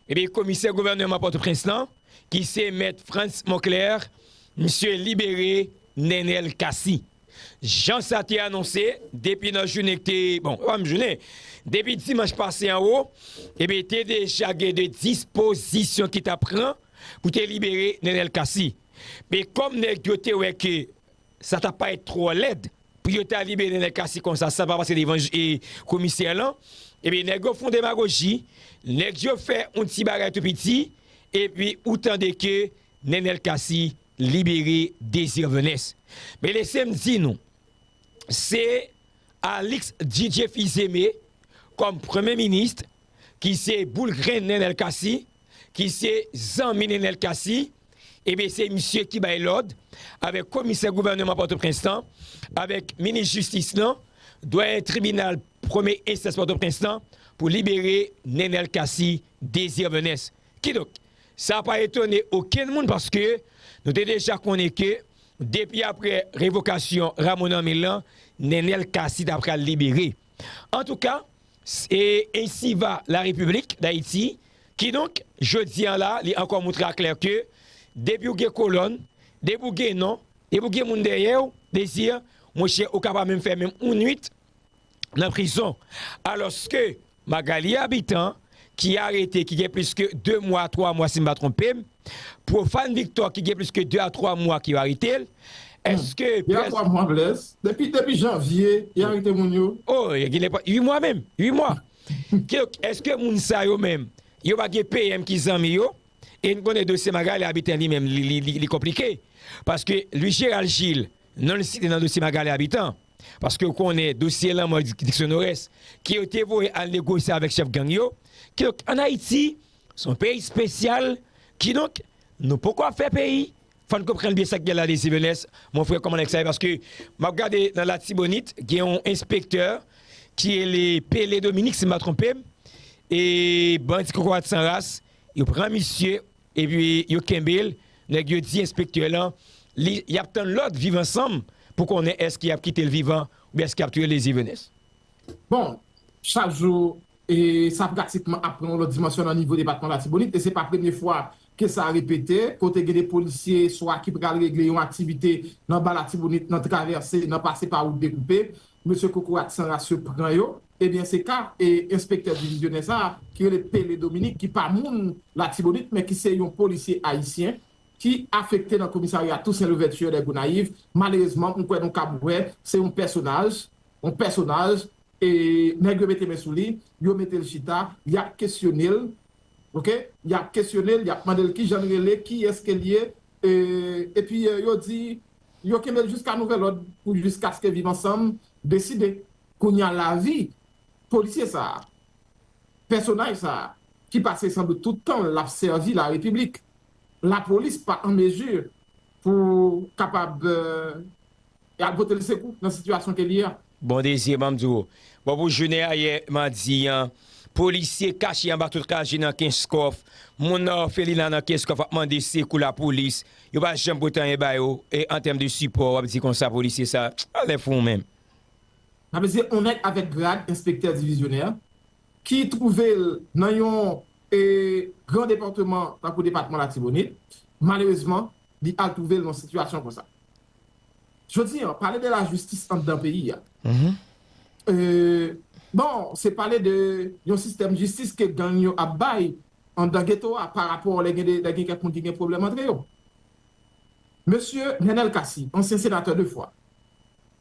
Ebyen komisè gouvèneman Pòtoprens lan ki se mèt Frantz Monclair misye libere Nenel Cassy jan sa te anonse depi nan jounen ki te bon pa menm jounen depi dimanch pase an wo ebyen te deja gen de dispozisyon ki ta pran pou te libere Nenel Cassy men kòm nèg yo te wè ke sa ta parèt twò lèd. Pou yo ta libere nèg kasi konsa san pa pase devan komisè lan, ebyen nèg yo fon demagoji, nèg yo fè yon ti bagay tou piti, epi ou tande ke Nenel Cassy libere Désir Venès. Men lese m di nou, se Alix Didier Fils-Aimé kòm premye minis ki se boul grenn Nenel Cassy, ki se zanmi Nenel Cassy, Ebyen se misye ki bay lòd avèk komisè gouvèneman Pòtoprens lan, avèk minis jistis lan, dwayen tribinal premye enstans Pòtoprens lan pou libere Nenel Cassy Désir Venens. Kidonk, sa pa etone okenn moun paske nou te deja konnen ke depi aprè revokasyon Rameau Normil lan, Nenel Cassy ta pral libere. Antouka, se ensiva la Repiblik Dayiti, kidonk, jodi an la, li ankò montre aklè ke depi ou gen kolòn, depi ou gen non, depi ou gen moun dèyè ou, Désir, monchè, ou ka pa menm fè menm yon nwit nan prizon. Alòske, Magalie Habitant, ki arete ki gen plis ke 2 mwa a 3 mwa si m pa twonpe m, Profane Victor ki gen plis ke 2 a 3 mwa ke yo arete l, eske pres. 2 a 3 mwa Blaise, depi depi janvye y arete moun yo. Oh gen lè pran 8 mwa menm, 8 mwa. Kidonk eske moun sa yo menm yo pa gen PM ki zanmi yo, e n konnen dosye Magalie Habitant li menm li konplike paske Louis Gérald Gilles Non li site nan dosye Magalie Habitant, paske ou konnen dosye lanmò Dickson Norès, ke yo te voye al negosye avèk chèf gang yo, kidonk an Ayiti, se yon peyi spesyal, kidonk nou poko ap fè peyi, fò n konprann byen sa k gen la Désir Venès, mon frè kòman nèg sa ye, paske m ap gade nan Latibonit, gen yon enspektè, ki rele Pélé Dominique si m pa twonpe m, e bandi kokorat san ras, yo pran misye, Epi yo kenbe l, nèg yo di enspektè lan li y ap tann lòd viv ansanm pou konnen èske y ap kite l vivan oubyen èske y ap touye l Ezivenes. Bon, chak jou, sa pratikman ap pran yon lòt dimansyon nan nivo depatman Latibonit e se pa premye fwa ke sa repete, kote gen de polisye swa ki pral regle yon aktivite nan Ba Latibonit, nan travèse, nan pase pa wout dekoupe, mesye kokorat san ras yo pran yo. Ebyen se ka e enspektè divizyonè sa a ki rele Pele Dominique ki pa moun Latibonit men ki se yon polisye ayisyen ki afekte nan komisarya Toussaint Louverture dè Gonayiv malerezman m kwè nou kab wè se yon pèsonaj yon pèsonaj e nèg yo mete men sou li yo mete l chita y ap kesyone l ok y ap kesyone l y ap mande l ki jan l rele ki èske l ye e epi yo di yo kenbe l jiska nouvèlòd pou jiskaske viv ansanm deside Kounya lavi polisye sa a, pèsonaj sa a ki pase san dout tout tan l ap sèvi larepiblik, lapolis pa an mezi pou kapab al pote l sekou nan sitiyasyon ke l ye a. Bon Désir banm di w, bon pou jounen ayè madi an, polisye kache anba tout kaje nan kenskòf, moun nan òfelina nan kenskòf ap mande sekou lapolis, yo pa janm pote anyen ba yo an tèm de sipò, w ap di konsa polisye sa a, alè fou ou menm. Sa vle di on nèg avèk grad enspektè divizyonè ki twouve l nan yon gran departeman tankou depatman Latibonit, malerezman li al twouve l nan sitiyasyon konsa. Jodi an, pale de lajistis anndan peyi a, bon, se pale de yon sistèm jistis ke gang yo ap bay anndan geto a parapò lè gen kèk moun ki gen pwoblèm antre yo. Mesye Nenel Cassy, ansyen senatè 2 fwa,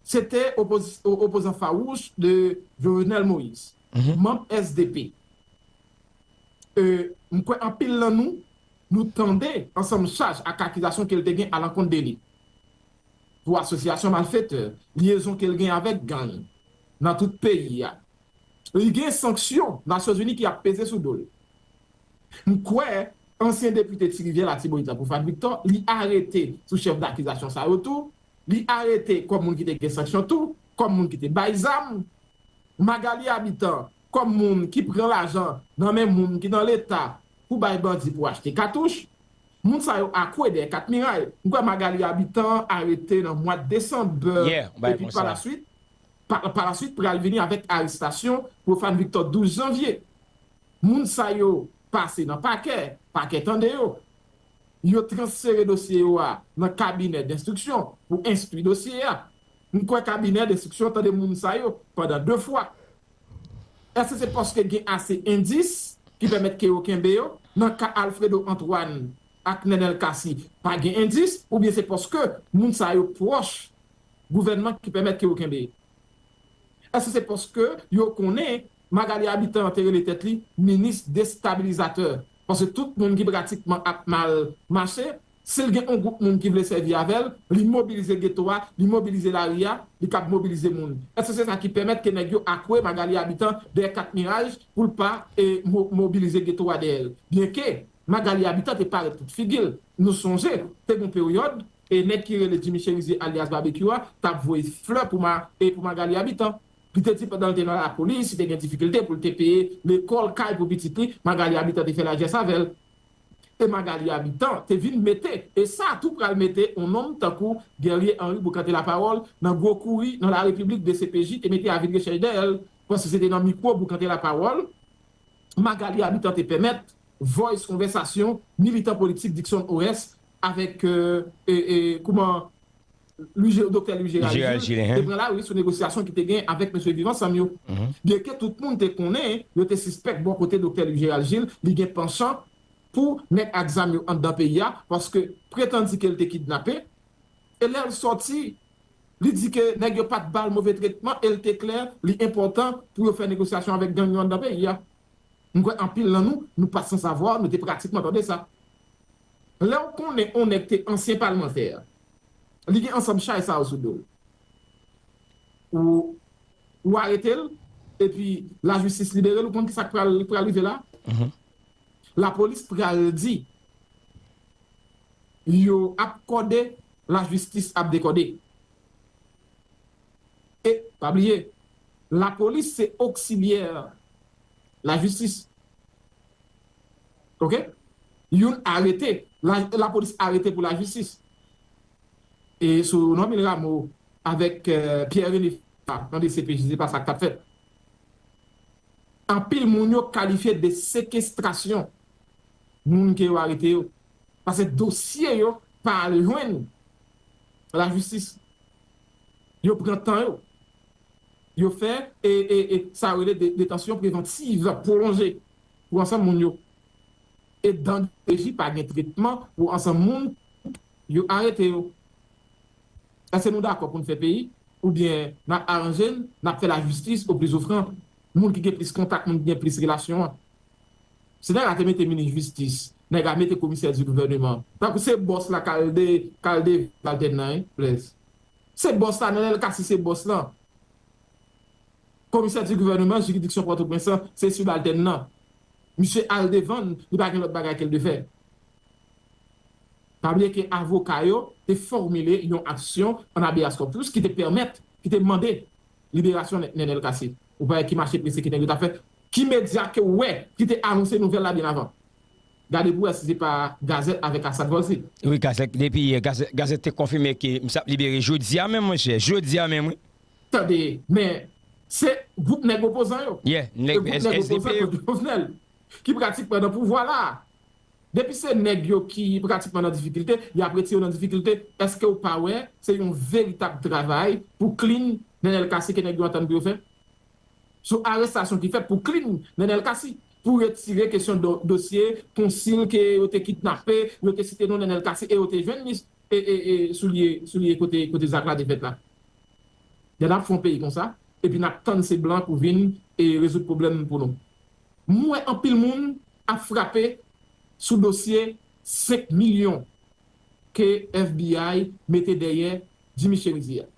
Se te opozan fawouch de Jovenel Moïse, manb sdp. M kwè anpil nan nou, nou tande ansanm chaj ak akizasyon ke l te gen alankont de li, pou asosyasyon malfetè, lyezon ke l gen avèk gang nan tout peyi a. Li gen sanksyon Nasyonzini ki ap peze sou do l. M kwè ansyen depite Ti Rivyè Latibonit la, Prophane Victor, li arete sou chèf dakizasyon sa yo tou. Li arete kòm moun ki te gen sanksyon tou kòm moun ki te bay zam. Magalie Habitant kòm moun ki pran lajan nan men moun ki nan leta pou bay bandi pou achte katouch. Moun sa yo akwe dèyè 4 miray. M kwè Magalie Habitant arete nan mwad desanb epi palasuit palasuit pral vini avèk arestasyon Prophane Victor 12 janvye. Moun sa yo pase nan pakè, pakè tande yo. yo transfere dosye yo a nan kabinè denstriksyon pou enstwi dosye a. M kwè kabinè denstriksyon tande moun sa yo pandan de fwa. Èske se paske gen ase endis ki pèmèt ke yo kenbe yo? Nan ka Alfredo Antoine ak Nenel Cassy pa gen endis oubyen se paske moun sa yo pwòch gouvènman ki pèmèt ke yo kenbe? Èske se paske yo konnen Magalie Habitant te rele tèt li minis destabilizatè paske tout moun ki pratikman ap mal mache, si l gen on gwoup moun ki vle sèvi avè l, li mobilize geto a, li mobilize lari a, li kab mobilize moun. Èske se sa ki pèmèt ke nèg yo akwe Magalie Habitant dèyè kat miraj pou l pa mobilize geto a dèyè l? Byenke Magalie Habitant te parèt tout figi l, nou sonje te gen on peryòd nèg ki rele Jimmy Cherizier alyas Babekyou a t ap voye flè pou Magalie Habitant. Li te di pandan l te nan lapolis, li te gen difikilte pou l te peye lekòl kay pou pitit li, Magalie Habitant te fè lajès avè l. E Magalie Habitant te vin mete, e sa tou pral mete on nonm tankou Guerrier Henri Bocante Laparole nan gwo kouri nan la Repiblik dcpj te mete avi de rechèch dèyè l, paske se te nan mikwo Bocante Laparole Magalie Habitant te pèmèt voice konvèsasyon militan politik Dickson Oreste avèk kouman Doktè Louis Gérald Gilles, te pran lari sou negosyasyon ki te gen avèk mesye Viv Ansanm yo. Byenke tout moun te konnen, yo te sispèk bò kote Doktè Louis Gérald Gilles li gen panchan pou nèg ak zam yo anndan peyi a paske pretandi ke l te kidnape e lè l sòti li di ke nèg yo pa t ba l move tretman e l te klè li enpòtan pou yo fè negosyasyon avèk gang yo anndan peyi a. M kwè anpil nan nou, nou pa san savwa, nou te pratikman tande sa. Lè w konnen on nèg te ansyen palmantè, Li gen ansanm chay sa yo sou do l. Ou arete l, epi lajistis libere l, ou konn ki sa k pral rive la? Lapolis pral di, yo ap kòde, lajistis ap dekòde. E, pa bliye, lapolis se oksilyè lajistis. ok youn arete la polis arete pou la jistis e sou normil rameau avek pierre rene fina nan dcpj se pa sak tap fet anpil moun yo kalifye de sekestrasyon moun ke yo arete yo pase dosye yo pa al jwenn la jistis yo pran tan yo yo fe e sa yo rele detansyon prevantiv pwolonje pou ansanm moun yo. E dan DPJ pa gen tretman pou ansanm moun yo arete yo. Eske nou dakò pou n fè peyi oubyen n ap aranje n, n ap fè lajistis o plisofran, moun ki gen plis kontak, moun ki gen plis relasyon an? Si nèg la te mete minis jistis, nèg la mete komisè di gouvèneman, tankou se bòs la k al de k al de Valtèn nan, hein, Blaise? Se bòs la, Nenel Cassy se bòs lan. Komisè di gouvèneman jiridiksyon Pòtoprens lan se sibaltèn lan. Misye al devan l, li pa gen lòt bagay ke l dwe fè. Pa bliye ke avoka yo te fòmile yon aksyon an habeas corpus ki te pèmèt, ki te mande liberasyon Nenel Cassy. Ou pa wè ki mache prese ki nèg yo t ap fè? Ki medya ke w wè ki te anonse nouvèl la byen avan? Gade pou w wè si se pa Gazette avèk Assad Volcy. Wi, Gazette, depi yè, Gazette te konfime ke misye ap libere jodi a menm, monchè, jodi a menm wi. Tande, men, se gwoup nèg opozan yo, e gwoup nèg opozan kont Jovenel, ki pratikman nan pouvwa la a. Depi se nèg yo ki pratikman nan difikilte, y ap retire yo nan difikilte. Eske ou pa wè se yon veritab travay pou klin Nenel Cassy ke nèg yo antann pou yo fè? Sou arestasyon ki fèt pou klin Nenel Cassy, pou retire kesyon dosye konsil ke yo te kidnape, yo te site non Nenel Cassy e yo te jwenn li sou lye kote zak la te fèt la. Lè nap fè yon peyi konsa epi nap tann se blan pou vin rezoud pwoblèm pou nou. M wè anpil moun ap frape sou dosye 5 milyon ke FBI mete dèyè Jimmy Cherizier a.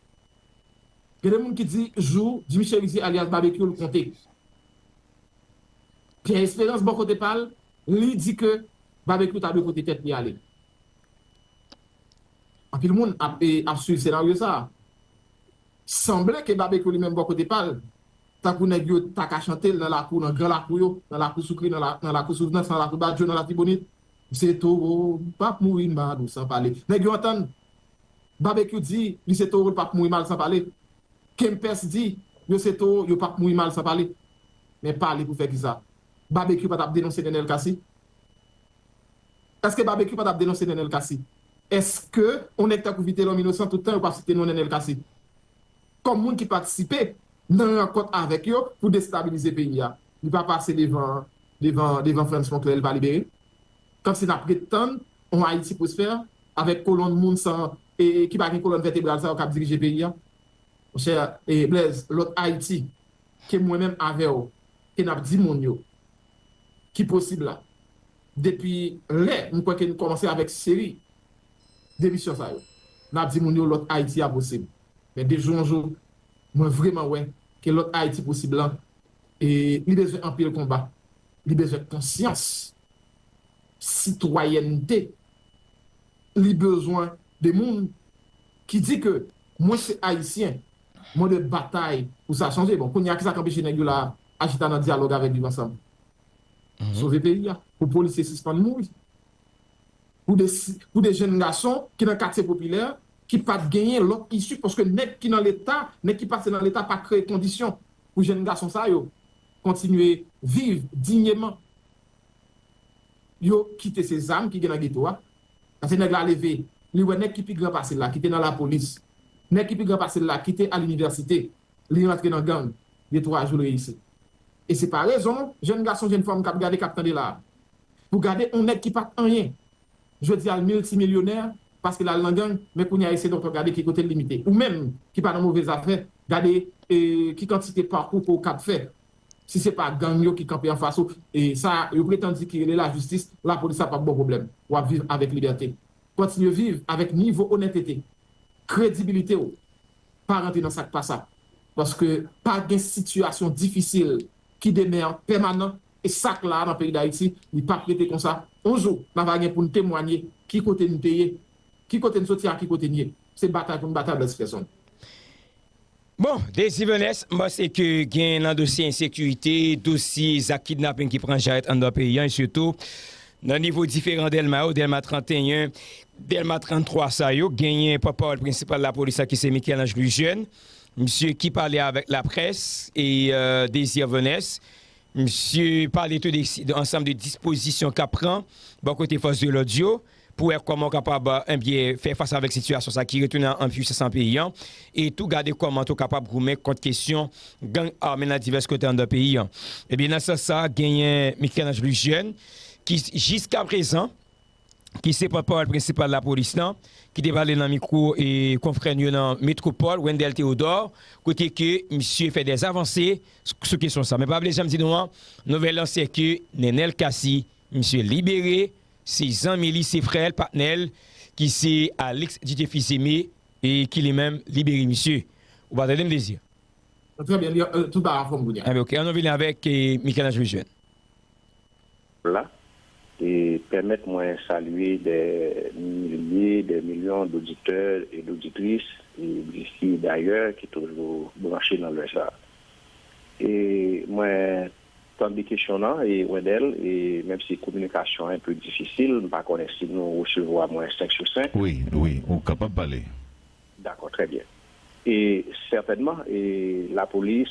Gen de moun ki di jou Jimmy Cherizier alyas Babekyou l konte. Pierre Esperance bò kote pa l, li di ke Babekyou ta dwe pote tèt li ale. Anpil moun ap ap swiv senaryo sa. Sanble ke Babekyou li menm bò kote pa l, tankou nèg yo ta ka chante l nan lakou, nan gran lakou yo, nan lakou Soukri, nan la, nan lakou Souvnans, nan lakou Badjo, nan Latibonit, M se towo, m p ap mouri mal ou san pale. Nèg yo antann Babekyou di li se towo l p ap mouri mal san pale. Kempès di yo se towo yo p ap mouri mal san pale. Men pale pou fè kisa? Babekyou pa t ap denonse Nenel Cassy? Eske Babekyou patap denonse Nenel Cassy? Eske on nèg tankou Vitelom inosan tout tan yo pap site non Nenel Cassy kòm moun ki patisipe nan rankont avèk yo pou destabilize peyi a? Li pa pase devan devan devan Frantz Fonclair li pa libere? Kòmsi nap ret tann on Ayiti pwosfè avèk kolonn moun san e ki pa gen kolonn vètebral sa yo kap dirije peyi a? Monchè e Blaise lòt Ayiti ke mwen menm avè w ke n ap di moun yo ki posib la depi lè m kwè ke nou kòmanse avèk seri de emisyon sa yo n ap di moun yo lòt Ayiti a posib men de jou an jou mwen vreman wè ke lòt Ayiti posib lan li bezwen anpil konba li bezwen konsyans sitwayènte li bezwen de moun ki di ke mwen se Ayisyen. Mwen dwe batay pou sa chanje. Bon, kounye a, ki sa k anpeche nèg yo la a chita nan dyalòg avèk Viv Ansanm? Sove peyi a. Pou polisye sispann mouri. Pou de jenn gason ki nan katye popilè, ki pa t genyen lòt isi paske nèg ki nan Leta, nèg ki pase nan Leta pa kreye kondisyon pou jenn gason sa yo kontinye viv dinyeman, yo kite se zam ki gen nan geto a. Pase nèg la leve, li wè nèg ki pi gran pase l la ki te nan lapolis, nèg ki pi gran pase l la ki te alinivèsite, li rantre nan gang, de twa jou l reyisi. E se pa rezon, jenn gason, jenn fanm k ap gade, k ap tande la a, pou gade on nèg ki pa t anyen, jodi a l miltimilyonè paske l al nan gang, men kounye a esedon to gade ki kote l limite. Ou menm ki pa nan move zafè, gade ki kantite pakou ke w kab fè Si se pa gang yo ki kanpe anfas ou, sa yo pretann di ki rele lajistis, lapolis la pap ba w pwoblèm. W ap viv avèk libète. Kontinye viv avèk nivo onètete, kredibilite w. Pa rantre nan sa k pa sa. Paske pa gen sitiyasyon difisil ki demean pèmanan e sa k la a nan peyi Dayiti, li pap rete konsa. On jou, na va gen pou n temwanye ki kote n te ye, ki kote n soti ak ki kote n ye. Se batay pou n batay blèdspèsonn. Bon, Desivenes, m panse ke gen nan dosye ensekirite, dosye zak kidnaping ki pran jarèt anndan peyi an e sitou nan nivo diferan Dèlma yo, Dèlma 31, Dèlma 33 sa yo, genyen pòtpawòl prensipal lapolis la ki se Michel-Ange Louis Jeune, misye ki pale avèk laprès e Desivenes, Misye pale tou de yon ansanm de dispozisyon k ap pran bò kote fòs de lòd yo pou wè kòman yo kapab enbyen fè fas avèk sitiyasyon sa ki retounen an enpwisans nan peyi an e tou gade kòman tou kapab goumen kont kesyon gang ame nan divès kote anndan peyi an. Ebyen nan sans sa genyen Michel-Ange Louis Jeune ki jiskaprezan ki se pòtpawòl prensipal lapolis lan, ki te pale nan mikwo konfrè n yo nan Metropole, Wendell Theodore, kote ke misye fè dè avanse sou kesyon sa. Men pa bliye janm di nou an, nouvèl lan se ke Nenel Cassy, misye libere, se zanmi li, se frè l, patnè l, ki se Alix Didier Fils-Aimé e ki li menm libere misye. Ou pa tande m Désir? Trè byen, tout bagay anfòm kounye a. Enben ok, an nou vini avèk Michel-Ange Lejeune. la e pèmèt mwen salye dè milye, dè milyon doditè e doditris disi e dayè ki toujou branche nan lè sa. E mwen tande kesyon nan e Wendel e menm si kominikasyon an enpe difisil, m pa konnen si nou resevwa mwen 5 sou 5. Wi, wi, ou kapab pale. Dakò, trè byen. E sètènman e lapolis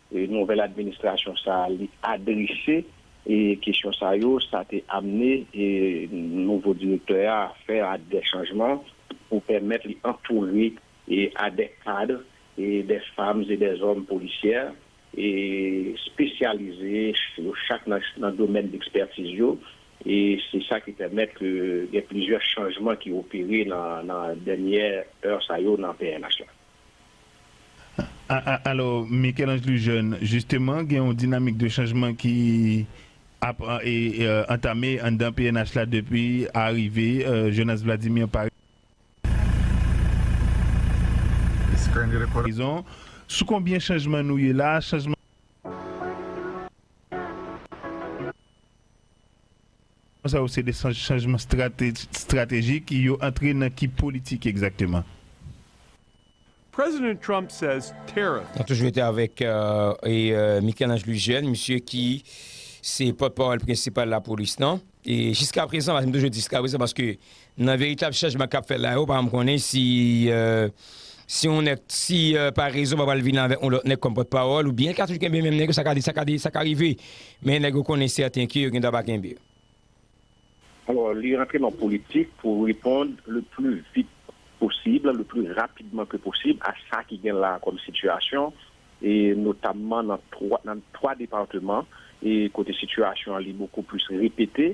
Nouvèl administrasyon sa a li adrese kesyon sa yo, sa te amne nouvo direktè a fè dè chanjman pou pèmèt li antoure a dè kadre, dè fanm e dè zòm polisyè espesyalize yo chak nan domèn dekspètiz yo. E se sa ki pèmèt ke gen plizyè chanjman ki opere nan dènyè è sa yo nan pnh la. Alò, Michel-Ange Lujeune, jisteman gen yon dinamik de chanjman ki ap antame anndan pnh la depi arive Jonas Vladimir pa prizon. Sou konbyen chanjman nou ye la? Chanjman. Chanjman sa yo se de chanjman stratejik, yo antre nan ki politik egzakteman? President Trump says tariff. Nou toujou rete avèk Michel-Ange Louis-Jeune, misye ki se pòtpawòl prensipal lapolis lan. E jiskaprezan, m toujou di jiskaprezan paske Nan veritab chanjman kap fèt la yo pa janm konnen si si yon nèg si pa rezon pa pral vini avèk yon lòt nèg kòm pòt pawòl oubyen ka toujou kenbe menm nèg yo sa ka di sa ka di sa ka rive men nèg yo konnen sèten ke yo gendwa pa kenbe. Alò li rantre nan politik pou reponn le pli vit posib, le pli rapidman ke posib a sa ki gen la kòm sitiyasyon e notamman nan 3 nan 3 departeman e kote sitiyasyon an li bokou plis repete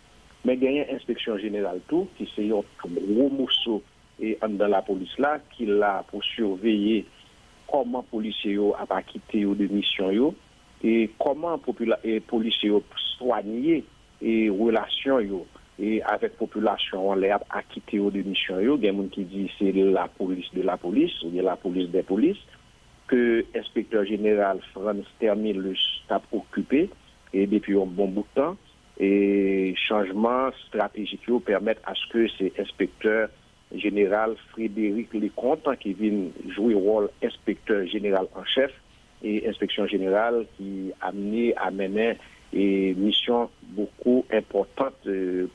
Men genyen enspeksyon jeneral tou ki se yon gwo moso anndan lapolis la ki la pou siveye kòman polisye yo ap akite yo de misyon yo e kòman polisye yo swanye relasyon yo avèk popilasyon an lè y ap akite yo de misyon yo. Gen moun ki di se lapolis de lapolis oubyen lapolis dè polis ke enspektè jeneral Frantz Termilus t ap okipe depi yon bon bout tan. e chanjman stratejik yo pèmèt aske se enspektè jeneral Frédéric Leconte ki vin jwe wòl enspektè jeneral an chèf e enspeksyon jeneral ki amne a mennen misyon bouko enpòtant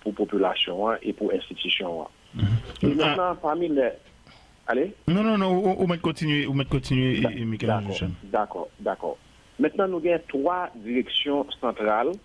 pou popilasyon an e pou enstitisyon an. E mentnan pami lè. Ale? Non, non, non, ou mèt kontinye, ou mèt kontinye Michel-Ange Lucien. Dakò, dakò, dakò. Mentnan nou gen 3 direksyon santral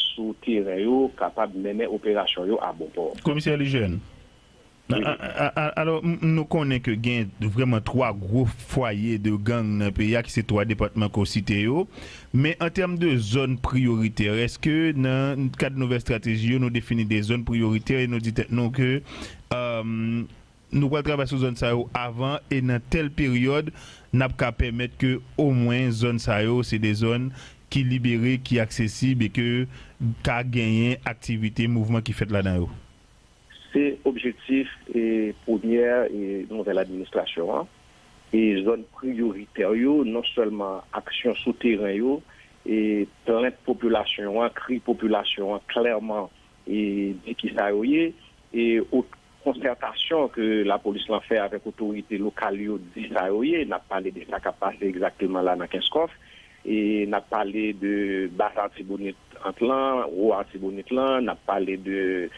sou teren yo kapab mennen operasyon yo a bon pò. Komisè Lijèn, alò nou konnen ke gen vrèman 3 gwo fwaye de gang nan peyi a ki se 3 depatman ke w site yo, men an tèm de zòn priyoritè, èske nan kad nouvèl estrateji yo nou defini de zòn priyoritè e nou di tèt nou ke Nou pral travay sou zòn sa yo avan e nan tèl peryòd n ap ka pèmèt ke omwen zòn sa yo se de zòn ki libere, ki aksesib e ke ka genyen aktivite, mouvman ki fèt ladan yo. Se objektif premyè nouvèl administrasyon an e zòn priyoritè yo, non sèlman aksyon sou teren yo, plent popilasyon an, kri popilasyon an klèman di kisa yo ye. Konsètasyon ke lapolis lan fè avèk otorite lokal yo di sa yo ye. N ap pale de sa k ap pase egzakteman la nan Kenskòf. E n ap pale de Bas Artibonit ant lan, Wo Artibonit lan. N ap pale de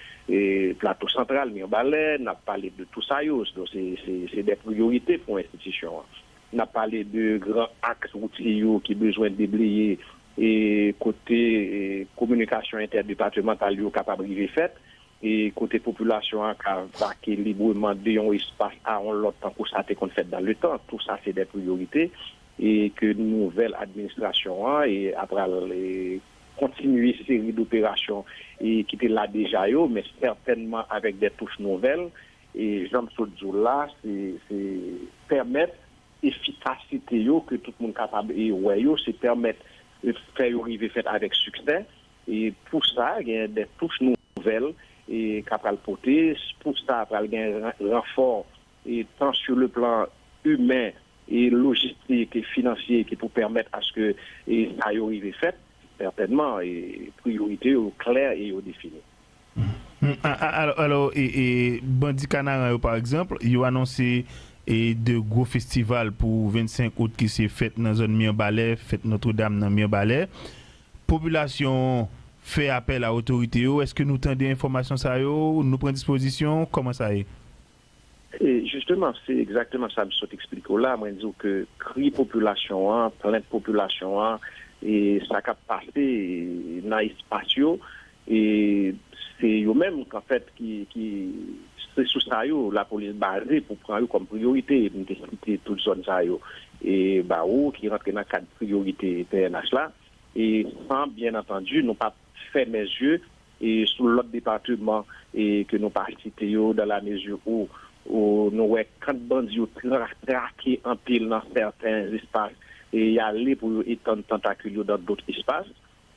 Plato Santral, Mirbalè. N ap pale de tou sa yo. Donk se se dè priyorite pou enstitisyon an. N ap pale de gran aks woutye yo ki bezwen debleye e kote kominikasyon entèdepatemantal yo kapab rive fèt. e kote popilasyon an ka vake libreman de yon espas a yon lòt tankou sa te konn fèt dan le tan, tou sa se dè priyorite e ke nouvèl administrasyon an a pral kontinye seri doperasyon ki te la deja yo, men sètènman avèk dè touch nouvèl e jan m sot di w la se pèmèt efikasite yo ke tout moun kapab wè yo, se pèmèt fè yo rive fèt avèk siksè. Pou sa, gen de touch nouvèl k a pral pote. Pou sa, pral gen ranfò tan sou le plan imen, lojistik, finansye ki pou pèmèt aske sa yo rive fèt. Sètènman, priyorite yo klè e yo defini. Alò, Bandi Kanaran yo pa egzanp, yo anonse 2 gwo festival pou 25 out ki se fèt nan zòn Mirbalè, fèt Notre Dame nan Mirbalè. Popilasyon fè apèl a otorite yo, eske nou tande enfòmasyon sa yo, nou pran dispozisyon, kòman sa ye? E jisteman, se egzakteman sa m sot eksplike w la, mwen di w ke kri popilasyon an, plent popilasyon an, e sa k ap pase nan espas yo, E se yo menm an fèt ki se sou sa yo lapolis baze pou pran yo kòm priyorite. M te site tout zòn sa yo ba ou ki rantre nan kad priyorite pnh la e san byen antandi nou pa p fèmen zye sou lòt depateman ke nou pa site yo dan la mezi ou nou wè kant bandi yo trake anpil nan sèten espas e y ale pou yo etann tantakil yo dan dot espas.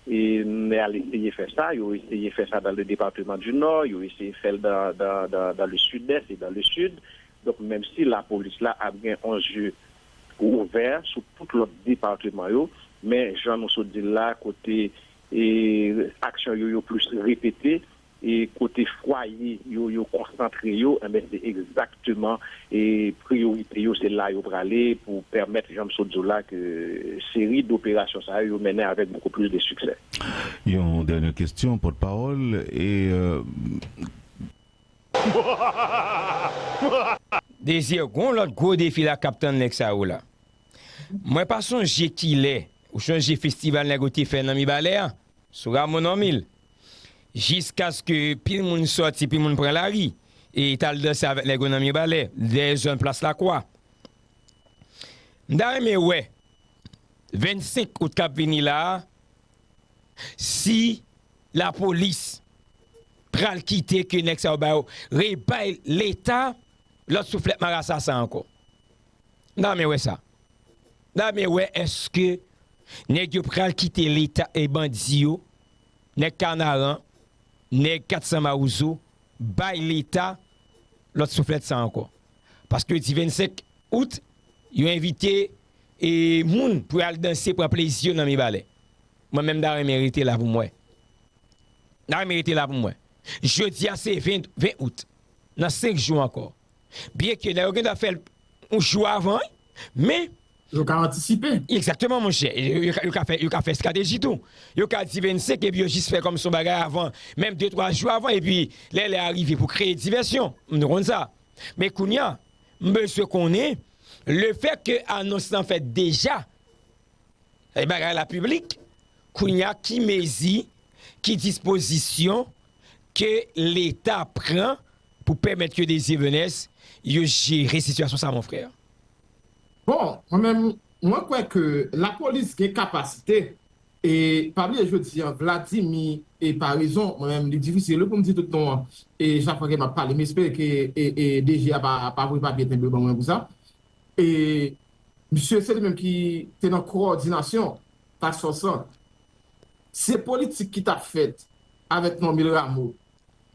Mè al eseye fè sa, yo eseye fè sa dan le departeman di Nò, yo eseye fè l dan le Sidès e dan le Sid. Donk menm si lapolis la ap gen on zye ouvè sou tout lòt departeman yo, men jan nou sot di l la kote aksyon yo yo plis repete, e kote fwaye yo yo konsantre yo enben se egzakteman e priyorite yo se la yo prale pou pèmèt jan m sot di w la ke seri doperasyon sa yo yo mennen avèk bokou plis de siksè. Yon dènyè kestyon pòt pawòl e. Désir gon lòt gwo defi la kap tann nèg sa yo la mwen pa sonje kilè ou sonje festival nèg yo te fè nan mibalè a sou rameau normil jiskaske pil moun sòti, pil moun pran lari e t al danse avèk nèg yo nan Mirebalais, dèyè zòn plas Lakwa. M ta renmen wè 25 out k ap vini la a si lapolis pral kite ke nèg sa yo ba yo, rebay Leta lòt souflèt marasa sa ankò. M ta renmen wè sa. M ta renmen wè èske nèg yo pral kite Leta e bandi yo nèg kanaran, nèg 400 mawozo bay leta lòt souflèt sa ankò. Paske di 25 out yo envite moun pou yo al danse pran plezi yo nan Mibalè. Mwen menm m ta renmen rete la pou m wè. M ta renmen rete la pou m wè. Jodi a se 20 out. Nan 5 jou ankò. Byenke nèg yo gentan fè l yon jou avan wi. Men. Yo ka antisipe. Exactement monchè, yo ka fè yo ka fè strateji tou. Yo ka di 25 epi yo jis fè kòm se yon bagay avan, menm 2 3 jou avan epi lè lè a rive pou kreye divèsyon. Nou konn sa. Men kounya m bezwen konnen le fè ke anons lan fèt deja, e bagay la piblik, kounya ki mezi, ki dispozisyon ke leta pran pou pèmèt ke Desir Venès yo jere sitiyasyon sa mon frère? Bon, mwen menm, mwen kwè ke lapolis gen kapasite, e pa bliye jodi an Vladimi e Paraison, mwen menm li difisil wi pou m di tout non an, e chak fwa ke m ap pale, m espere ke DG a pa voye papye tenbe ban mwen pou sa, e misye se li menm ki te nan kowòdinasyon task force lan. Se politik ki t ap fèt avèk Normil Rameau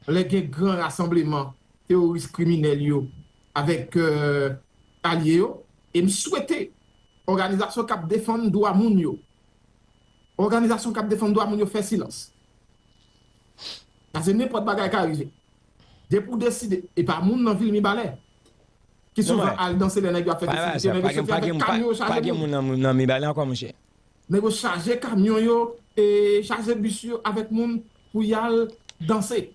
lè gen gran rasanbleman teworis kriminèl yo avèk alye yo e m swete òganizasyon k ap defann dwa moun yo òganizasyon k ap defann dwa moun yo fè silans paske nenpòt bagay ka rive depi w deside e pa moun nan vil mibalè ki souvan al danse lè nèg yo ap fè festivite nèg yo soti avèk kamyon yo chaje moun nèg yo chaje kamyon yo e chaje bis yo avèk moun pou y al danse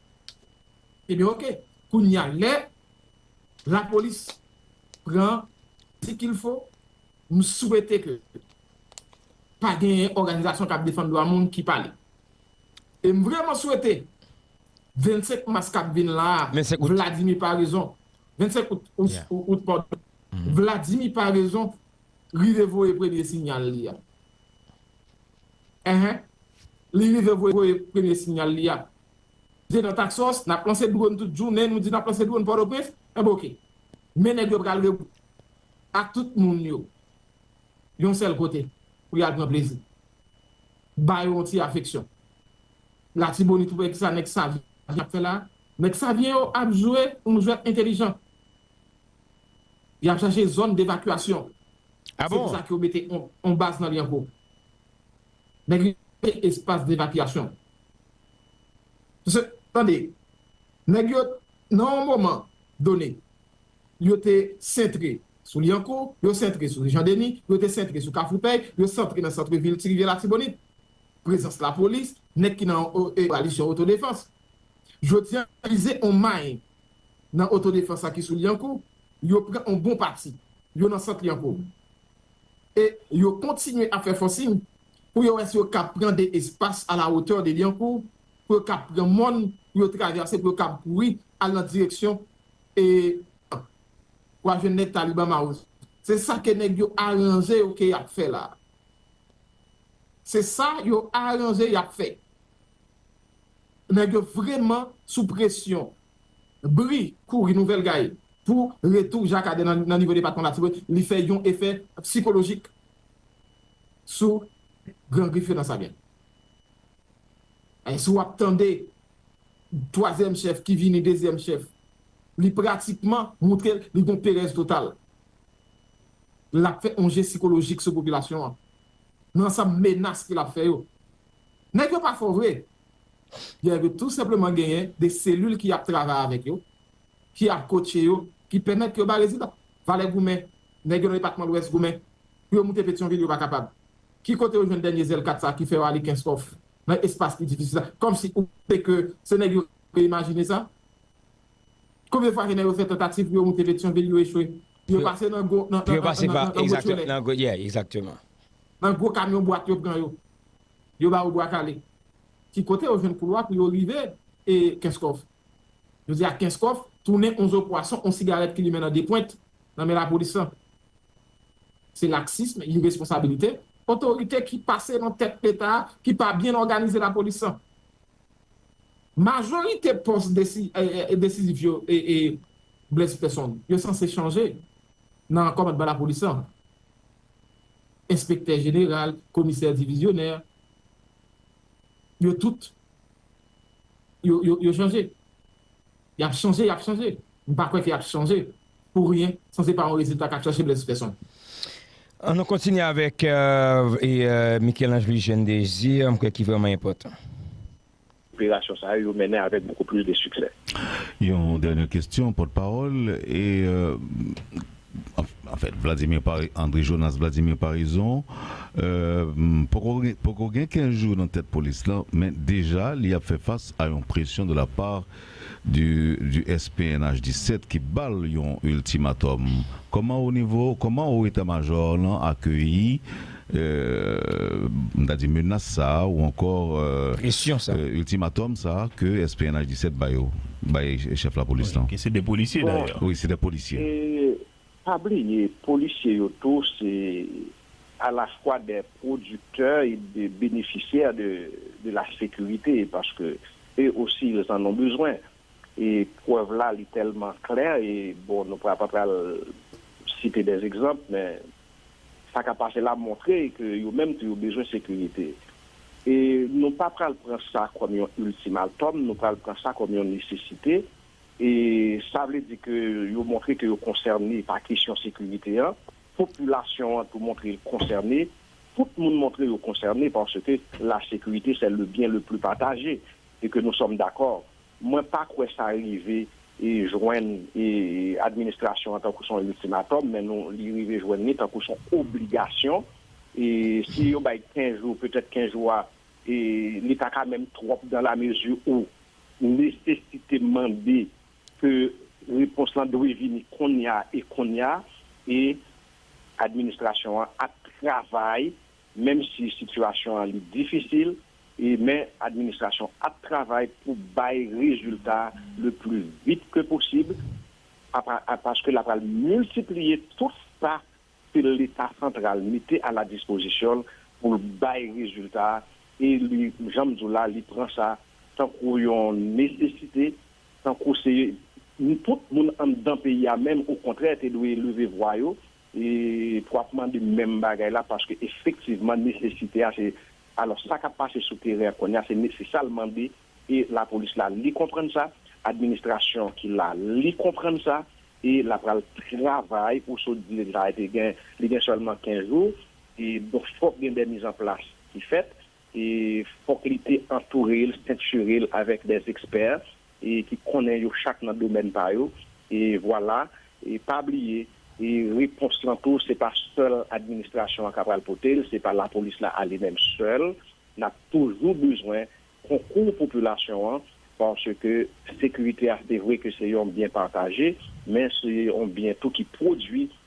ebyen ok kounya lè. Lapolis pran ti kilfo m swete ke pa genyen òganizasyon kap defann dwa moun ki pale e m vreman swete 25 mas kap vin la a Vladimir Paraison 25 out padon Vladimir Paraison rive voye premye sinyal li a ehe li rive voye premye sinyal li a Vye dan tak sos, nap lanse dwon tout jounen, nou di nap lanse dwon pòtoprens, enben ok. Men nèg yo pral regroupe ak tout moun yo yon sèl kote pou yal pran plezi. Ba yo yon ti afeksyon. Latibonit wè kisa nèg savyen ap fè la, nèg savyen yo ap jwe yon jwèt entelijan. Yap chache zòn devakyasyon. Se pou sa ke yo mete yon baz nan Lyankou. Nèg yo te espas devakyasyon. Se, tande, nèg yo, nan yon moman done, yo te sentre sou Lyankou, yo sentre sou Jan Deni, yo te sentre sou Kafoupèy, yo sentre nan sentre vil Ti Rivyè Latibonit. Prezans lapolis, nèg ki nan yon koalisyon otodefans. Jodi a, vize yon may nan otodefans la ki sou Lyankou, yo pran yon bon pati. Yo nan sant Lyankou. e yo kontinye ap fè fòsin pou yo wè si yo kab pran de espas a la wotè de Lyankou pou yo kab pran mòn pou yo travèse pou yo kab kouri al nan direksyon e an. W a jwenn nèg Taliban Mawo se sa ke nèg yo aranje yo ke y ap fè la a. Se sa yo aranje y ap fè. Nèg yo vreman sou presyon Bri kouri nouvèl gay pou retou Jacques Ader nan nivo depatman Latibonit li fè yon efè psikolojik sou Gran Grif yo nan Savyen. Si w ap tande twazyèm chèf ki vini dezyèm chèf, li pratikman moutre li gon perèz total. L ap fè yon je sikolojik sou popilasyon an nan ansanm menas ke l ap fè yo. Nèg yo pa fò vre. Yo dwe tou senpleman genyen de selil ki ap travay avèk yo, ki ap kotche yo, ki pèmèt yo bay rezilta. Valè goumen, nèg yo nan depatman lwès goumen pou yo moute Petyonvil yo pa kapab. Ki kote yo jwenn dènye zèl kat sa ki fè yo ale Kenskòf nan espas ki difisil sa? Kòmsi ou panse ke se nèg yo te imajine sa? Konbyen fwa ke nèg yo fè tantativ pou yo moute Petyonvil yo echwe? Yo pase nan gwo kamyon bwat yo pran yo. Yo ba yo bwa kale. Ki kote yo jwenn koulwa pou yo rive e Kenskòf? Jodi a Kenskòf tounen on zo pwason, on sigarèt ki limen nan de pwent nan men lapolis lan. Se laksism, iresponsabilite, otorite ki pase nan tèt Leta a ki pa byen òganize lapolis lan. Majorite pòs desizif yo e Blaise Peson yo sanse chanje nan kòmandman lapolis lan, enspektè jeneral, komisè divizyonè, yo tout yo chanje. Y ap chanje, y ap chanje. M pa kwè ke y ap chanje pou ryen san se pa yon rezilta k ap chache blèz pèsonn. An nou kontinye avèk Michel-Ange Louis-Jeune Désir, m kwè ki vrèman enpòtan. Operasyon sa yo, yo mennen avèk beaucoup plus de succès. Yon dènyè kestyon, pòtpawòl, e Anfèt, Vladimir Pari, André Jonas Vladimir Paraison, poko gen poko gen 15 jou nan tèt polis lan, men deja li ap fè fas a yon presyon de la part de du SPNH 17 ki ba l yon ultimatum. Kòman o nivo, kòman o eta majò lan akeyi m ta di menas sa a ou ankò Presyon sa a. iltimatòm sa a ke SPNH 17 ba yo, bay chèf lapolis lan? Ke se 2 polisye dayè. Wi, se 2 polisye. E pa bliye polisye yo tou se alafwa 2 pwodiktè e 2 benefisyè de la sekirite paske e osi yo an non bezwen. e prèv la li tèlman klè e bon nou pa pral site dè egzanp men sa kap pase la montre ke yo menm tou yo bezwen sekirite e nou pa pral pran sa kòm yon iltimaltòm nou pral pran sa kòm yon nesesite e sa vle di ke yo montre ke yo konsène pa kesyon sekirite an popilasyon an tou montre li konsène tout moun montre yo konsène paske la sekirite sè le byen le pli pataje et que nous sommes d'accord, mwen pa kwè sa rive jwenn administration an tankou son ultimatum men nou li rive jwenn li tankou son obligation et si yo bay 15 jours peut-être 15 jours a li ta ka menm trop dans la mesure où nécessité mande que repons lan dwe vini konnya et konnya et administration an ap travay menm si sitiyasyon an li difisil e men administrasyon ap travay pou bay rezilta le pli vit ke posib paske la pral miltipliye tout sa ke leta santral mete a la dispozisyon l pou l bay rezilta e li jan m di w la li pran sa tankou yon nesesite tankou se tout moun anndan peyi a menm okontrè te dwe leve vwa yo E pou ap mande menm bagay la paske efektivman nesesite a se alò sa kap pase sou teren an kounye a se se sa l mande e lapolis la li konprann sa, administrasyon ki la li konprann sa e la pral travay ou sot di li te gen sèlman 15 jou e donk fòk gen dè mizanplas ki fèt E fòk li te antoure l, sentire l avèk dè ekspè e ki konnen yo chak nan domèn pa yo. E vwala. E pa bliye, e repons lan tou se pa sèl administrasyon an ka pral pote l, se pa lapolis la ale menm sèl. N ap toujou bezwen konkou popilasyon an paske sekirite a se vre ke se yon byen pataje, men se yon byen tou ki pwodui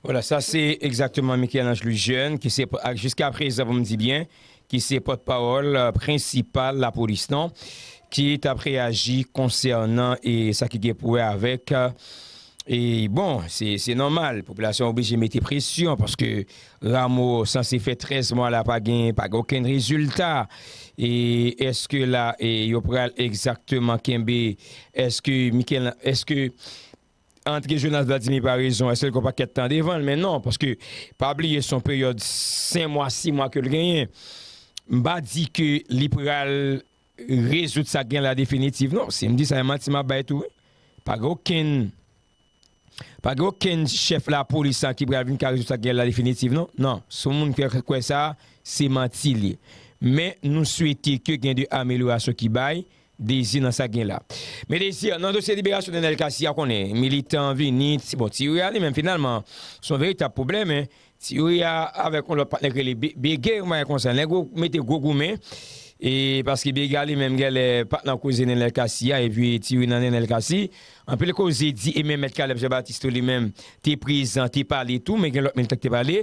Voilà, sa se egzakteman Michel-Ange Loujeune ki se, ak jiska prezan pou m di byen, ki se pòt pawòl prensipal lapolis lan ki t ap reyaji konsènan e sa ki gen pou wè avèk e bon, se nòmal popilasyon an oblije mete presyon paske Rameau sanse fè 13 mwa la pa gen okenn rezilta e èske la yo pral egzakteman kenbe èske Michel, èske. Antre Jonas Vladimir pa rezon eske l gen yon pakèt tan devan l men non paske pa bliye son peryòd 5 mwa 6 mwa ke l genyen m pa di ke li pral rezoud sa k gen la definitiv non si m di sa e manti m ap bay tou wi pa gen okenn pa gen okenn chèf lapolis la ki pral vin ka rezoud sa k gen la definitiv non nan si yon moun fè kwè sa se manti l ye men nou swete ke gen de amelyorasyon ki bay Dezi nan sak gen la. Me Désir, nan dosye liberasyon Nenel Cassy a konnen militan vini, bon ti Youri a li menm finalman son veritab pwoblèm, ti Youri a avèk yon lòt patnè ki rele Bege yon bagay konsa, nèg yo mete gwo goumen e paske Bege a li menm gèlè pat nan koze Nenel Cassy a epi ti Youri nan Nenel Cassy, anpil koze di e menm mèt Caleb Jean Baptiste tou li menm te prezan te pale tou men gen lòt militan ki te pale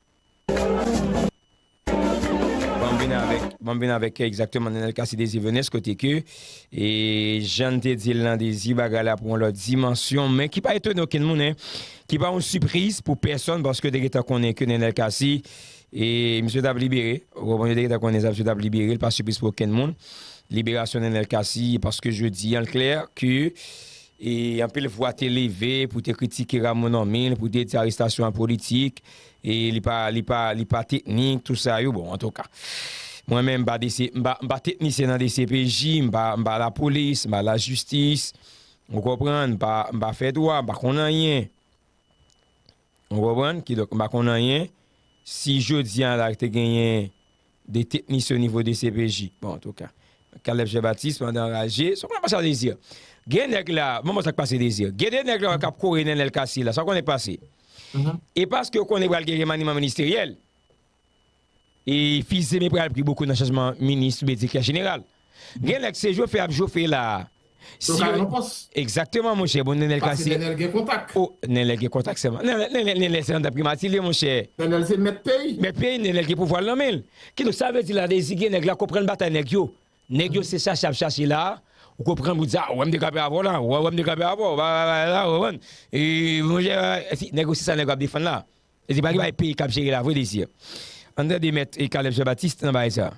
Banm vin avèk kè egzakteman Nenel Cassy Désir Venus kote ke e jann te di l nan Désir bagay la pran yon lòt dimansyon men ki pa etone okenn moun e ki pa yon sipriz pou pèsonn paske yo te gentan konnen ke Nenel Cassy e misye t ap libere ou konprann yo te gentan konnen sa misye t ap libere l pa sipriz pou okenn moun liberasyon Nenel Cassy paske jodi an l klè ke e anpil vwa te leve pou te kritike Rameau Normil pou te di arestasyon an politik E li pa, li pa, li pa teknik, tout sa yo, bon, antouka. Mwen menm m pa DC, m pa, m pa teknisyen nan dcpj, m pa, m pa lapolis, m pa lajistis, ou konprann, m pa, m pa fè dwa, m pa konn anyen. Ou konprann? Kidonk, m pa konn anyen. Si jodi a la te genyen. 2 teknisyen o nivo dcpj, bon antouka Caleb Jean Baptiste mande anraje, sa w konnen k ap pase la Désir? Gen nèg la, banm wè sa k pase Désir, gen 2 nèg la wè k ap kore Nenel Cassy la, sa w konnen k pase? E paske yo konnen pral gen remaniman ministeryèl, e Fils-Aimé pral pri bokou nan chanjman minis oubyen direktè jeneral. Gen lè k se jofe ap jofe la. Yo ka nan pòs. Egzakteman monchè, bon Nenel ka se. Pase Nenel gen kontak. O, Nenel gen kontak sèlman. Nenel se andan primati l ye monchè. Nenel se mèt peyi. Mèt peyi, Nenel gen pouvwa l nan men l. Kidonk sa vle di la dezigye nèg la konprann batay nèg yo. Nèg yo se chache y ap chache la a, ou konprann pou di a, ou wè m te kanpe avè w la, ou wè wè m te kanpe avè w, ba ba ba la, ou konprann. E monchè ba ba, si nèg yo se sa nèg yo ap defann la a. E se pa gen bagay peyi k ap jere la vre Désir. Ann tande mèt Caleb Jean Baptiste nan bagay sa a.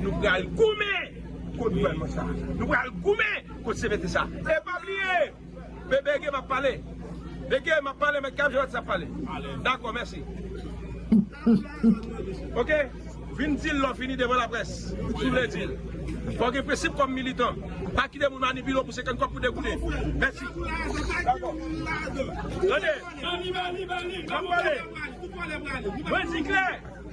Nou pral goumen kont gouvènman sa. Nou pral goumen kont CPT sa. E pa bliye! Bege map pale. Bege map pale met kap je whatsapp pale. Dakò mèsi. Ok vin dil lè w fini devan laprès si w vle dil. Fò w gen prensip kòm militan. Pa kite moun manipile w pou 50 kòb pou degoune. Mèsi. Dakò. Tande! Map pale. Mwen di klè!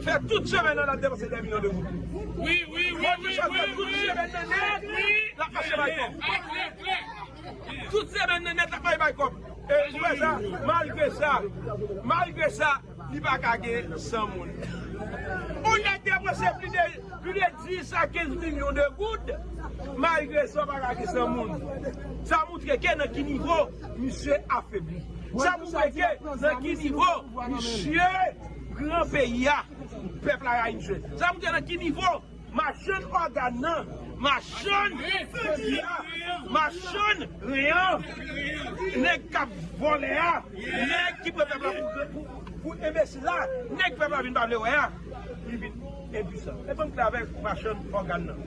Fè tout chemen nan lap depanse 2 milyon de goud. Fò Trichard fè tout chemen nan nèt lap mache bay kòb. Tout chemen nan nèt lap mache bay kòb. E ou wè sa, malgre sa, malgre sa, li pa ka gen 100 moun. Ou nèk depanse pli de, pli de 10 a 15 milyon de goud, malgre sa ou pa ka gen 100 moun. Sa moutre ke nan ki nivo misye afebli. Sa moutre ke nan ki nivo misye. Pran peyi a pèp la rayi misye. Sa montre nan ki nivo machann ògàn nan machann peyi a machann ren an nèg kap vòlè a nèg ki pran pèp la pou enbesil la nèg pèp la vin pa vle wè a li vin Edison. E banm pale avèk machann ògàn nan.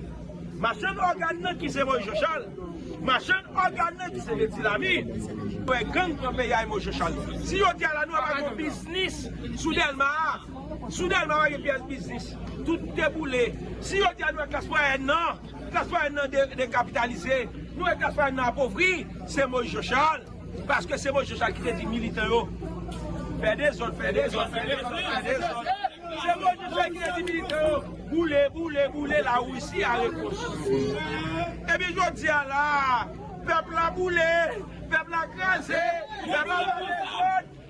Machann ògàn nan ki se Moise Jean-Charles. Machann ògàn nan ki se Medy Lamy. Wè gang pran peyi a e Moise Jean-Charles. Si jodi a la nou pa gon biznis sou Dèlma a, sou Dèlma a pa gen pyès biznis. Tout te boule. Si jodi a nou wè klas mwayèn nan, klas mwayèn nan dekapitalize, nou wè klas mwayèn nan apovri, se Moise Jean-Charles. Paske se Moise Jochal ki te di militan yo fè dezòd, fè dezòd, fè dezòd, fè dezòd. Se Moise Jochal ki te di militan yo boule, boule, boule la Russie a rekonstwi. Epi jodi a la a, pèp la boule, pèp la kraze, pèp la fè dezòd.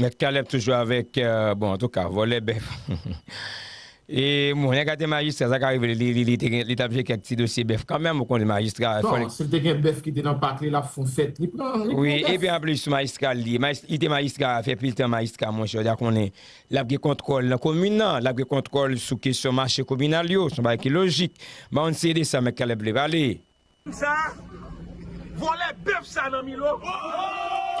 Mèt Caleb toujou avèk bon antouka vòlè bèf e bon nèg la te majistra sa ka rive li tap jwe kèk ti dosye bèf kanmèm ou konn majistra fò li Sil te gen bèf ki te nan pak li lap fon fèt li pran bèf. Wi epi anplis majistra li ye li te majistra fè pil tan majistra monchè ou ta konnen lap gen kontwòl nan komin nan lap gen kontwòl sou kesyon mache kominal yo son bagay ki lojik bann si e de sa mèt Caleb vle pale. Nèg sa vòlè bèf sa nan milo ohh.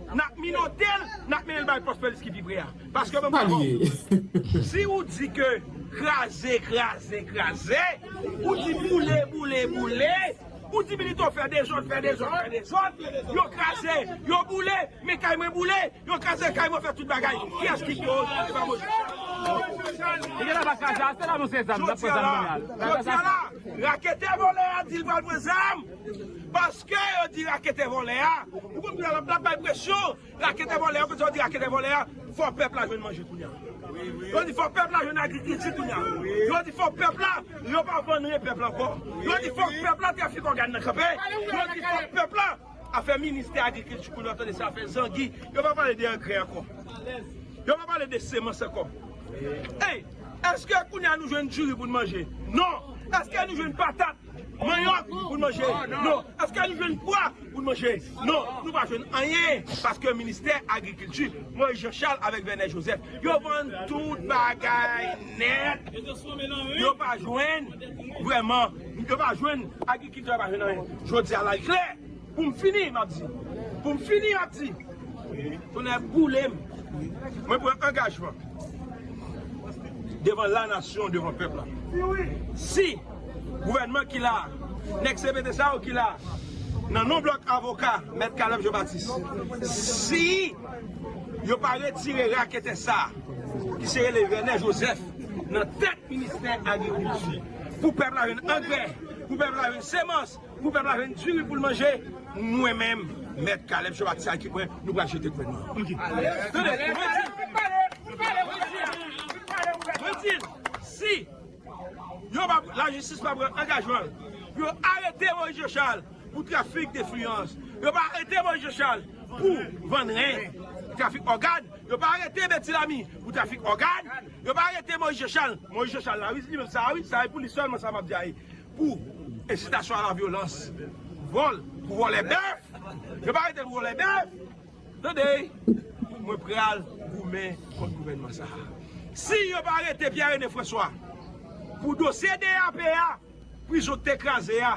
Nap minotel nap menel bay pos polis ki pi pre a paske mwen pral baw si ou di ke kraze kraze kraze ou di boule boule boule ou di milito fè dezod fè dezod fè dezod yo kraze yo boule men kay mwen boule yo kraze kay mwen fè tout bagay kiyes ki pi otan epa mwen jodi a la raketè volè a dil pral pran zam. Paske yo di raketè vòlè a, ou konprann la lap bay presyon, raketè vòlè a, kote yo di raketè vòlè a, fò pèp la jwenn manje kounya. Yo di fò pèp la jwenn agrikilti kounya. Yo di fò pèp la, yo pa vann ren pèp la ankò. Yo di fòk pèp la trafik ògàn nan kanpe. Yo di fòk pèp la, afè ministè agrikilti kounya w tande se afè zangi, yo pa pale de angrè ankò. Yo pa pale de semans ankò. Ey, èske kounya nou jwenn diri pou n manje? Non! Èske nou jwenn patat? Manyòk pou n manje? Non. Èske nou jwenn pwa pou n manje? Non. Nou pa jwenn anyen paske ministè agrikilti, Moyiz Janchal avèk Vènè Jozèf, yo vann tout bagay nèt. Yo pa jwenn vrèman, yo pa jwenn, agrikiltè yo pa jwenn anyen. Jodi a la li klè. Pou m fini m ap di. Pou m fini m ap di. Tonnè boule m. Mwen pran angajman. Devan la nasyon, devan pèp la. Si gouvènman ki la a, nèg CPT sa yo ki la a, nan non blòk avoka Mèt Caleb Jean Baptiste, si yo pa retire raketè sa a, ki se rele Vernet Joseph, nan tèt ministè agrikilti, pou pèp la jwenn angrè, pou pèp la jwenn semans, Pou pèp la jwenn diri poul manje mwen menm mèt kalèb chòv ak saki mwen nou pral jete kwenn mwen. Pou ensitasyon a la vyolans, vòl pou vòlè bèf, yo pa arete l pou vòlè bèf, tande, mwen pral goumen kont gouvènman sa a. Si yo pa arete Pierre Rene François pou dosye DAP a, prizon k te kraze a,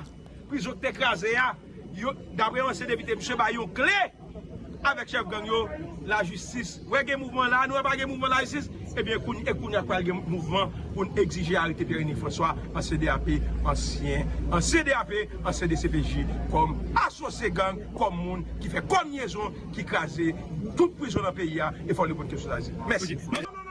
prizon k te kraze a, Yo dapre yon ansyen depite misye bay yon kle avèk chèf gang yo lajistis wè gen mouvman la nou wè pa gen mouvman lajistis ebyen kounye e kounye pral gen mouvman poun egzije arete Pierre Rene François ansyen DAP ansyen ansyen DAP ansyen dcpj kòm asosye gang kòm moun ki fè kòmyezon ki kraze tout prizon nan peyi a e fòk li konn kesyon sa mèsi.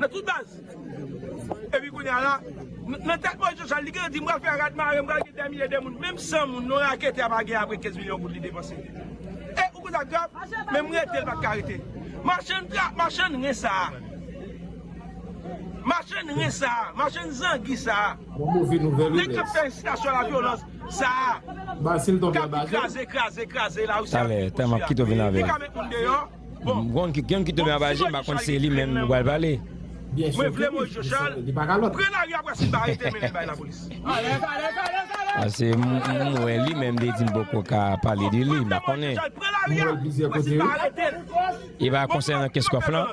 Nan tout baz. Epi kounye a la, nan tèt Moyiz Joshua, li gentan di, m pral fè rad mare, m pral gen dèmilye de moun. Menm 100 moun, yon raketè pa gen apre 15 milyon goud li depanse. E, ou kwè sa grav? Menm rete l pa t ka rete. Machann tra, machann ren sa a. Machann ren sa a, machann zangi sa a. Nèg k ap fè ensitasyon a la vyolans sa a. K ap kraze, kraze, kraze la ri sa a. Talè, talè m ap kite w vin avè l. Li ka met moun deyò. M konn ki gang ki tonbe anba je m pa konn se li menm nou pral pale. Mwen vle moise jochal pre lari apre simba arete mennen bay la polis. Pase m we li menm te di m poko ka pale de li m pa konnen. E pa konsenan kenskof lan.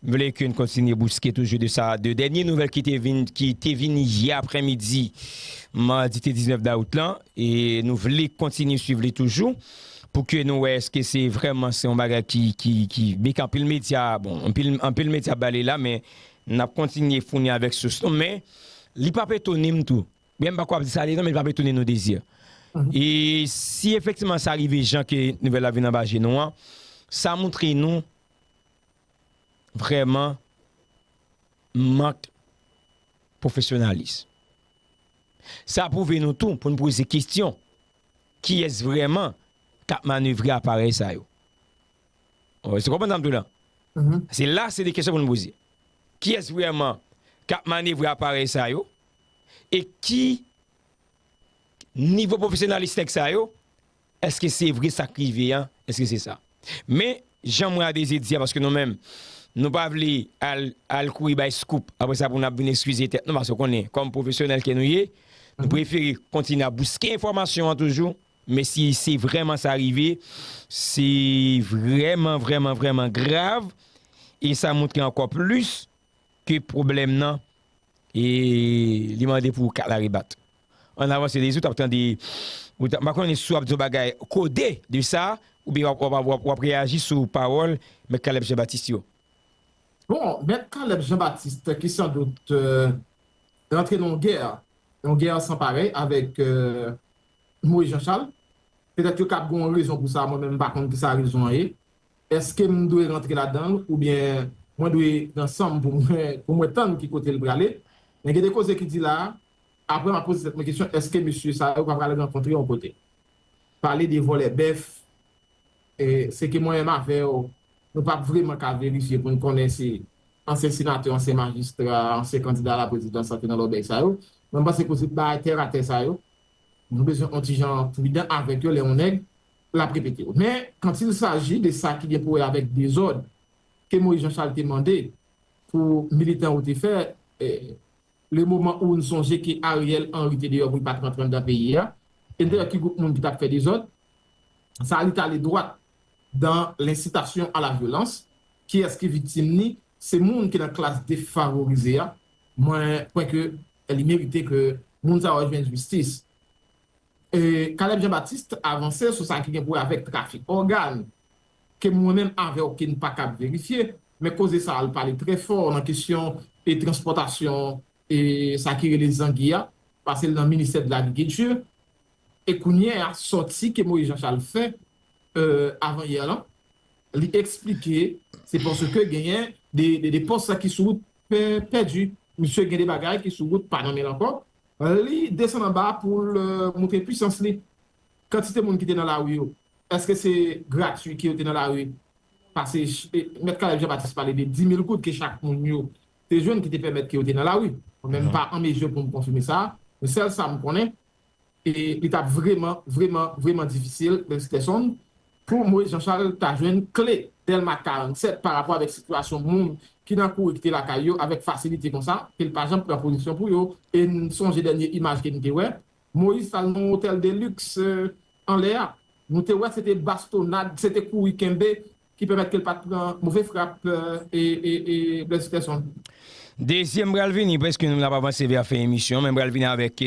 M vle ke n kontinye bouske toujou de sa de dènye nouvèl ki te vin ki te vin yè aprèmidi madi te 19 dawout lan e nou vle kontinye swiv li toujou pou ke nou wè eske se vrèman se yon bagay ki ki ki byen ke anpil medya bon anpil anpil medya bale la men n ap kontinye founi avèk sous nou men li p ap etone m tou byen m pa ko ap di sa li non men li p ap etone nou Désir e si efektivman sa rive jan ke nouvèl la vin anba je nou an sa moutre nou vrèman mank pwofesyonalis. Sa pwouve nou tou pou n poze kesyon, kiyès vrèman k ap manevre aparèy sa yo? Èske w konprann sa m di w la? Se la se de kesyon pou n poze. Kiyès vrèman k ap manevre aparèy sa yo? E ki nivo pwofesyonalis nèg sa yo Eske se vre sak rive an eske se sa men jan mwen abeze di a paske nou menm nou pa vle al kouri bay scoop apre sa pou nap vin eskize tèt nou paske ou konnen kòm pwofesyonèl ke nou ye nou prefere kontinye ap bouske enfòmasyon an toujou men si se vrèman sa rive se vrèman vrèman vrèman grav e sa moutre ankò plis ke pwoblèm nan e li mande pou kala rebat. Ann avanse Dezi ou tap tande ou tap m pa konnen si w ap di yon bagay kode de sa oubyen w ap w ap reyaji sou pawòl Mèt Caleb Jean Baptiste yo. Bon, Mèt Caleb Jean Baptiste ki san dout rantre nan yon gè, yon gè san parèy avèk Moise Jean Charles, petèt yo kab gen yon rezon pou sa mwen menm m pa konn ki sa rezon an ye. Eske m dwe rantre ladan l oubyen mwen dwe pran san m pou mwen tann ki kote l prale? Men gen de koze ki di la a, apre m ap poze tèt mwen kesyon eske mesye sa yo pa pral rankontre yon kote. Pale de vòlè bèf, se ke mwen menm avè w, nou p ap vreman ka verifye pou n konnen si ansyen senatè, ansyen majistra, ansyen kandida a la prezidans la te nan lòbèy sa yo. Men m panse koze bagay tèratè sa yo, nou bezwen on ti jan pridan avèk yo lè yon nèg l ap repete yo. Men, kantilsaji de sa ki gen pou wè avèk dezòd ke Moyiz Janchal te mande pou militan yo te fè, le moman ou n sonje ke Aryèl Anri te deyò pou l pa t rantre anndan peyi a, e n te wè ki gwoup moun ki t ap fè dezòd, sa li t ale dwat dan lensitasyon a la vyolans. Kiyès ki viktim ni? Se moun ki nan klas defavorize a. Mwen kwè ke li merite ke moun sa yo jwenn jistis. Caleb Jean Baptiste avanse sou sa ki gen pou wè avèk trafik ògàn, ke mwen menm avè w ke n pa kab verifye, men koze sa a l pale trè fò nan kesyon e transpòtasyon e sa ki rele zangi a, pase l nan ministè de l'agriculture e kounyè a sòti ke Moïse Jean Charles fè avan yè lan, li eksplike se paske genyen de pòs ki sou wout pèdi, misye gen de bagay ki sou wout pa nan men l ankò. Li desann anba a pou l montre pwisans li. Kantite moun ki te nan lari yo, èske se gratui ke yo te nan lari? Pase Mèt Caleb Jean Baptiste pale de 10,000 goud ke chak moun yo te jwenn ki te pèmèt ke yo te nan lari. Mwen menm m pa an mezi pou m konfime sa, men sèl sa m konnen, e li t ap vreman, vreman, vreman difisil, Benskèson, Pou Moïse Jean Charles ta jwenn kle Dèlma 47 pa rapò avèk sitiyasyon moun ki nan kouri kite lakay yo avèk fasilite konsa ke l pa janm pran pozisyon pou yo e n sonje dènye imaj ke n te wè Moïse t al nan yon otèl de liks anlè a nou te wè se te bastonad se te kouri kenbe ki pèmèt ke l pa t pran move frap e Blaise Peterson. Dezyèm m pral vini, prèske nou ap avanse vè fen emisyon men m pral vini avèk.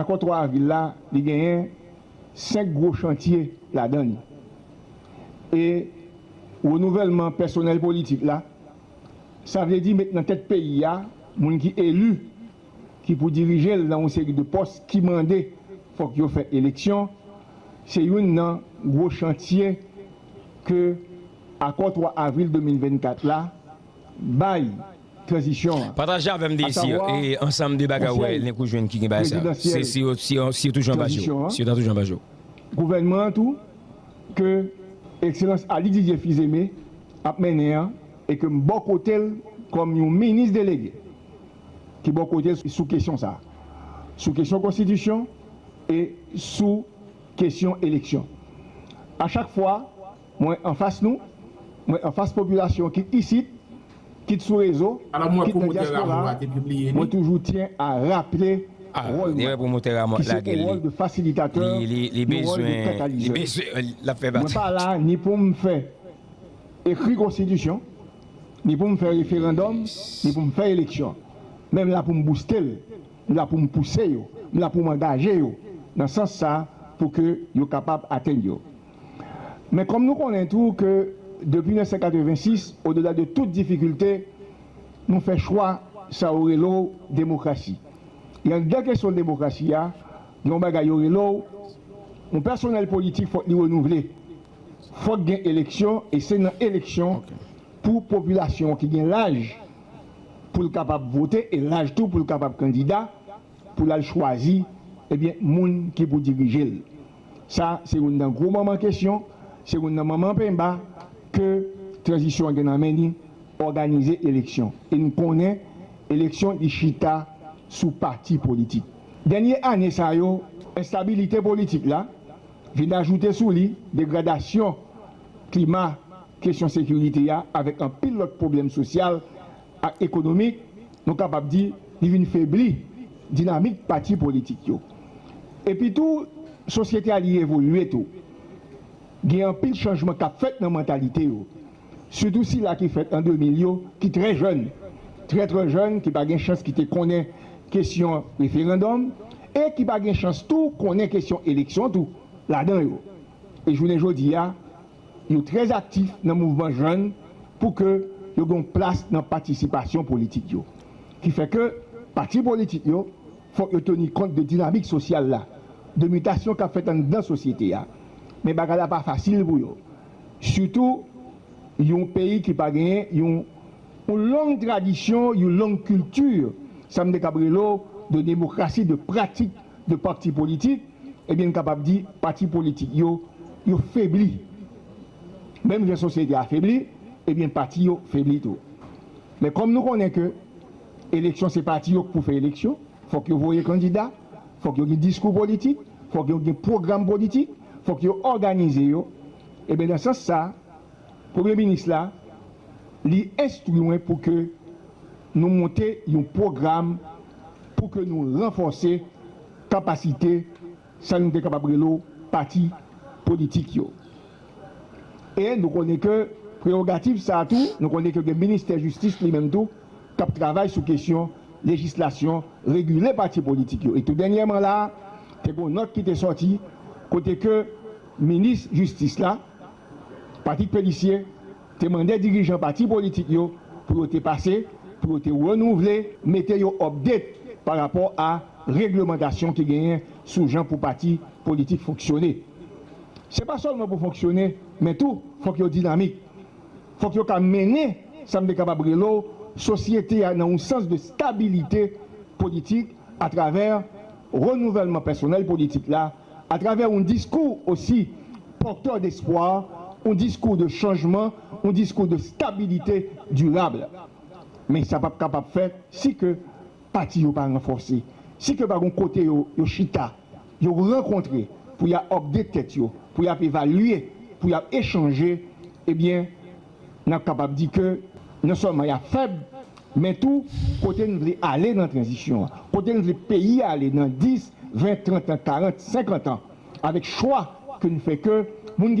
Akò 3 avril la, li genyen 5 gwo chantye ladan li. E renouvèlman pèsonèl politik la, sa vle di met nan tèt peyi a moun ki eli, ki pou dirije l nan yon seri de pòs ki mande fòk yo fè eleksyon, se youn nan gwo chantye ke akò 3 avril 2024 la. bay tranzisyon an, Pataje avèm dezi e ansanm de bagay ou wè Elnèk ou jwenn ki gen bagay sa yo. Se si yo si yo toujou anba je w. Si yo ta toujou anba je w. Gouvènman an tou ke Ekselans Aly Didier Fils-Aimé ap mennen an e ke m bò kote l kòm yon minis delege ki bò kote l sou kesyon sa a. Sou kesyon konstitisyon e sou kesyon eleksyon. A chak fwa Mwen anfas nou, mwen anfas popilasyon kit isit, kit sou rezo, kit nan dyaspora a, mwen toujou tyen a raple wòl mwen, ki se yon wòl de fasilitatè, yon wòl de katalizè. Mwen pa la ni pou m fè ekri konstitisyon, ni pou m fè referandòm, ni pou m fè eleksyon. Men m la pou m bouste l, m la pou m pouse yo, m la pou m angaje yo nan sans sa pou ke yo kapab atenn yo. Men kòm nou konnen tou ke depi 1986, odela de tout difikilte, nou fè chwa sa yo rele w demokrasi. E anndan kesyon demokrasi a, gen yon bagay yo rele w, yon pèsonèl politik fòk li renouvle, fòk gen eleksyon e se nan eleksyon pou popilasyon an ki gen laj pou l kapab vote e laj tou pou l kapab kandida pou l al chwazi ebyen moun ki pou dirije l. Sa se youn nan gwo manman kesyon, se youn nan manman penmba ke tranzisyon an gen nan men li, òganize eleksyon. E n konnen eleksyon li chita sou pati politik. Dènye ane sa yo, enstabilite politik la vin ajoute sou li degradasyon klima kesyon sekirite a avèk anpil lòt pwoblèm sosyal, ak ekonomik, nou kapab di li vin febli dinamik pati politik yo. Epi tou, sosyete a li evolye tou. Gen anpil chanjman k ap fèt nan mantalite yo, sitou sila ki fèt an 2000 yo ki trè jèn, trè trè jèn, ki pa gen chans ki te konnen kesyon referandòm e ki pa gen chans tou konnen kesyon eleksyon tou ladan yo. E jounen jodi a, Yo trè aktif nan mouvman jèn pou ke yo gen yon plas nan patisipasyon politik yo. Ki fè ke pati politik yo fòk yo teni kont de dinamik sosyal la, de mitasyon k ap fèt anndan sosyete a. Men bagay la pa fasil pou yo. Sitou yon peyi ki pa genyen yon long tradisyon, yon long kilti, sa m te kab rele w, de demokrasi, de pratik 2 pakti politik, ebyen n kapab di pati politik yo, yo febli. Menm jan sosyete a febli, ebyen pati yo febli tou. Men kòm nou konnen ke eleksyon se pati yo k pou fè eleksyon, fòk yo voye kandida, fòk yo gen diskou politik, fòk yo gen pwogram politik, fòk yo òganize yo, ebyen nan sans sa, Premye minis la, li enstwi mwen pou ke nou monte yon pwogram pou ke nou ranfòse kapasite sa nou te kapab rele w pati politik yo. E nou konnen ke prewogativ sa a tou, nou konnen ke gen ministè jistis li menm tou k ap travay sou kesyon lejislasyon regile pati politik yo. E tou dènyèman la a, te gen yon nòt ki te sòti kote ke minis jistis la, Patrick Pélissier te mande dirijan pati politik yo pou yo te pase, pou yo te renouvle, mete yo update pa rapò a reglemantasyon ki genyen sou jan pou pati politik fonksyone. Se pa sèlman pou fonksyone men tou fòk yo dinamik. Fòk yo ka mennen sa m te kapab rele w sosyete a nan yon sans de stabilite politik atravè renouvèlman pèsonèl politik la, atravè yon diskou osi pòtè despwa, yon diskou de chanjman, yon diskou de stabilite dirab. Men sa pap kapab fèt si ke pati yo pa ranfòse, si ke pa gon kote yo yo chita, yo rankontre pou ya update tèt yo, pou yap evalye, pou yap echanje, ebyen, n ap kapab di ke non sèlman y ap fèb, men tou kote n vle ale nan tranzisyon an, kote n vle peyi a ale nan 10, 20, 30 an, 40, 50 an, avèk chwa ke n fè ke moun ki.